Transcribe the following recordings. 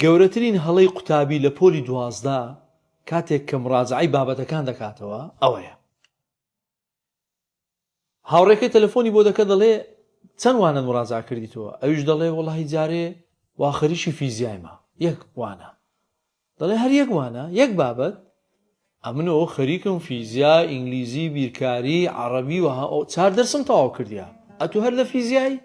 گەورەترین هەڵەی قوتابی لە پۆلی دوازدە کاتێک کە مڕاجەعەی بابەتەکان دەکاتەوە ئەوەیە هاوڕێکەی تەلەفۆنی بۆ دەکە دەڵێ چەند وانەت مڕاجا کردیتەوە ئەویش دەڵێ وەڵی جارێ وا خەریکی فیزیایمە یەک وانە دەڵێ هەر یەک وانە یەک بابەت ئەمنەوە خەریکم فیزیا ئینگلیزی بیرکاری عربی وە چار دەرسم تەواو کردیا ئەتو هەر لە فیزیایی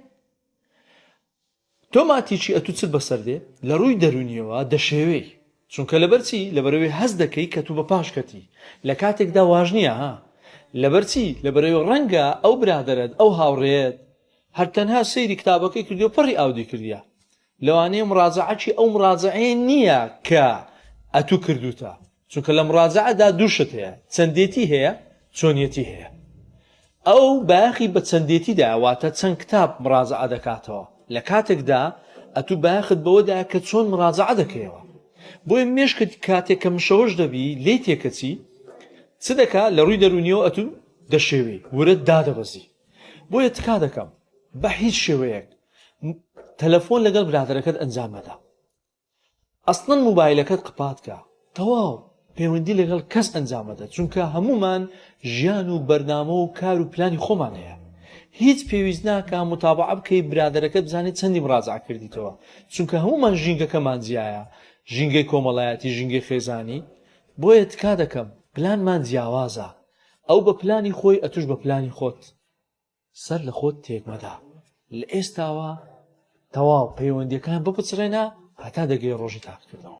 تۆ ماتیچی ئەتوو چت بەسەر دێ لەڕووی دەرونیەوە دەشێوێی چونکە لەبەر چی لەبەرەوەی هەست دەکەی کە تو بە پاش کەتی لە کاتێکدا واش نیە ها لەبەر چی لەبەرەوەی ڕەنگە ئەو برادەرەت ئەو هاوڕێیەت هەر تەنها سەیری کتابەکەی کردیەو پەڕی ئاودی کردیە لەوانەیە مڕاجەعەکی ئەو مڕاجەعەیە نیە کە ئەتوو کردوتە چونکە لە مڕاجەعە دا دوو شت هەیە، چەندێتی هەیە، چۆنیەتی هەیە. ئەو بایەخی بە چەندێتی دایە، واتە چەند کتاب مڕاجەعە دەکاتەوە، لە کاتێک دا ئەتوو بایەخت بەوە دایە کە چۆن مڕاجەعە دەکەیەوە. بۆیە مێشکت کاتێک کە مشەوەش دەبی، لێی تێکەچی، چ دەکا؟ لە ڕووی دەروونییەوە ئەتوو دەشێوی، ورەت دادەبەزی. بۆیە تکا دەکەم، بە هیچ شێوەیەک تەلەفۆن لەگەڵ برادەرەکەت ئەنجام مەدە. ئەسڵەن موبایلەکەت قپات کە تەواو پەیوەندی لەگەڵ کەس ئەنجام مەدە چونکە هەموومان ژیان و بەرنامە و کار و پلانی خۆمان هەیە هیچ پێویست ناکا متابعە بکەی برادەرەکەت بزانێت چەندی مراجعە کردیتەوە چونکە هەموومان ژینگەکەمان جیایە ژینگەی کۆمەڵایەتی ژینگەی خێزانی بۆیە تکا دەکەم پلانمان جیاوازە ئەو بە پلانی خۆی ئەتوش بە پلانی خۆت سەر لە خۆت تێک مەدە لە ئێستاوە تەواو پەیوەندیەکان بپچڕێنە هەتا دەگەی ڕۆژی تاقیکردنەوە.